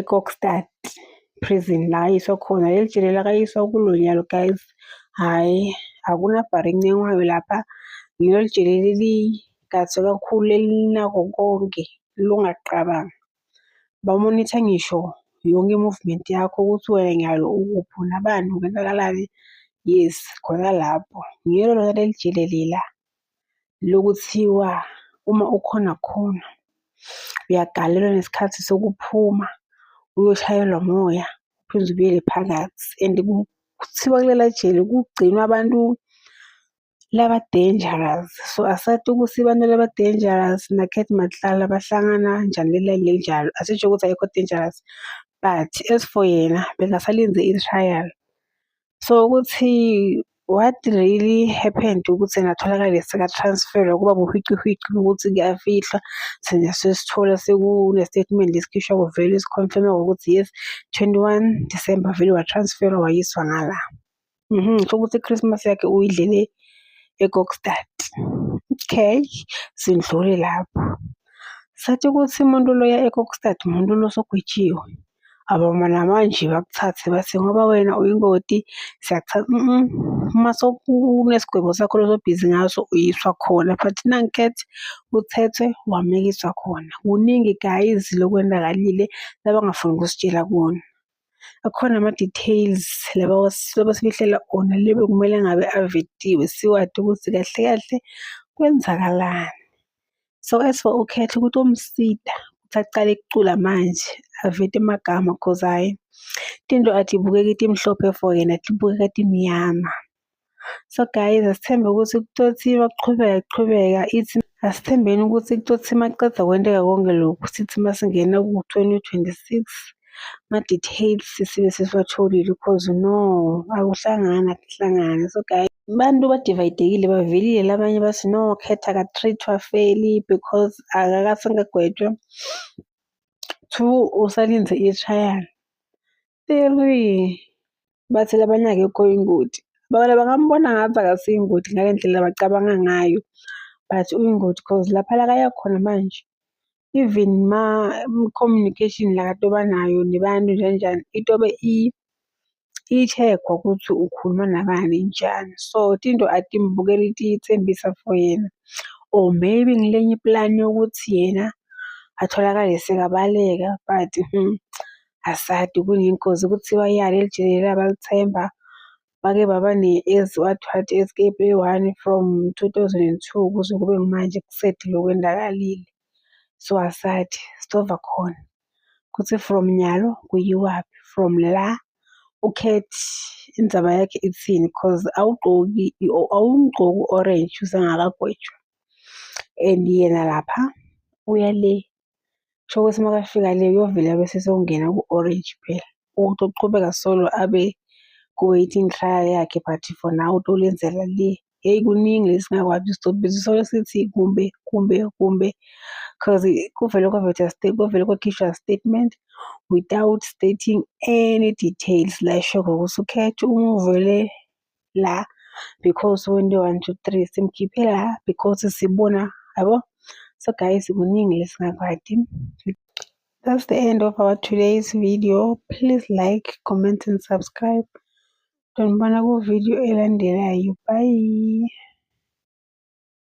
eKokstad prison la ayiswa khona leli jele lakayiswa kulo nyalo guys hhayi akunabhari encencwayo lapha lelo jele leligadse kakhulu elinako konke lungaqabangi bamonitha ngisho yonke i-movement yakho ukuthi wena nyalo ukuphi unabani kwenzakalani yes khona lapho ngiyelo lona leli jele lela lokuthiwa uma ukhona khona uyagalelwa nesikhathi sokuphuma uyoshayelwa moya uphinde ubuyele phakathi and kuthiwa kulela jele kugcinwa abantu laba dangerous so asathi ukuthi abantu laba dangerous nakhethi makuhlala bahlangana njani lela linjalo asisho ukuthi ayikho dangerous but as for yena bekasalinde i-trial. So ukuthi what really happened ukuthi engatholakala seka-transferwa kuba buhwicihwici ukuthi kuyafihlwa thina sesithola sekune-statement esikhishwa kuvele sikhonfirme ngokuthi yes 21 December vele watransferwa wayiswa ngala mhm kusho ukuthi i-Christmas yakhe uyidlele eKokstad okay sindlule lapho sathi ukuthi umuntu loya eKokstad umuntu losogwetshiwe abama namanje bakuthathe bathi ngoba wena uyingoti siyakuthatha uma sokunesigwebo sakho lozobhizi ngaso uyiswa khona but nanket uthethwe wamekiswa khona kuningi guys lokwenzakalile labangafuni ukusitshela kona akhona ama-details laba sibehlela ona lebe kumele ngabe avetiwe siwade ukuthi kahle kahle kwenzakalani So as for uKhetho ukuthi umsida ukuthi aqale ukucula manje avete amagama cause hhayi tinto atibukeki timhlophe for yena tibukeka timnyama. So guys asithembe ukuthi kutothi makuqhubeka kuqhubeka ithi asithembeni ukuthi kutothi maqeda kwenteka konke lokhu sithi masingena ku-2026 ama-details sibe sesiwatholile because no akuhlangani akuhlangani so guys abantu badivayidekile bavelile labanye bathi no khetha ka-treatwa feli because akakasengagwetshwa two usalinze i-trial three bathi labanye akekho ingoti bona bangambona ngathi akasiyo ingoti ngale ndlela bacabanga ngayo but uyingoti cause lapha la kaya khona manje even ma communication la kade obanayo nebantu njanjani itobe i-check-wa ukuthi ukhuluma nabani njani. So tinto atimbukeli tiyitsembisa for yena or maybe ngilenye i-plan yokuthi yena atholakale sekabaleka but asadi kunengozi kuthiwa iyala elijulile labalithemba bake baba ne-Eswatini Escape eyi-one from two thousand and two kuze kube kumanje kusedlule okwenzakalile. So asathi sizova khona ukuthi from nyalo kuyiwaphi, from la ukhethe indzaba yakhe ithini cause awugqoki awumgqoki u-orange usangakagwetshwa and yena lapha uya le Kusho ukuthi uma kafika le uyovele abe sesewungena ku-orange phela. Ukuthi uqhubeka solo abe ku-waiting trial yakhe but for now utolenzela le. Hheyi kuningi lesi singakwazi isitobhisi solo sithi kumbe kumbe kumbe cause kuvele kwavetha kuvele kwakhishwa statement without stating any details la eshokhona ukuthi ukhethe umuvele la because wento one two three simkhiphe la because sibona yabo so guys kuningi lesingakwadi that's the end of our today's video please like comment and subscribe tonibona ku video elandelayo bye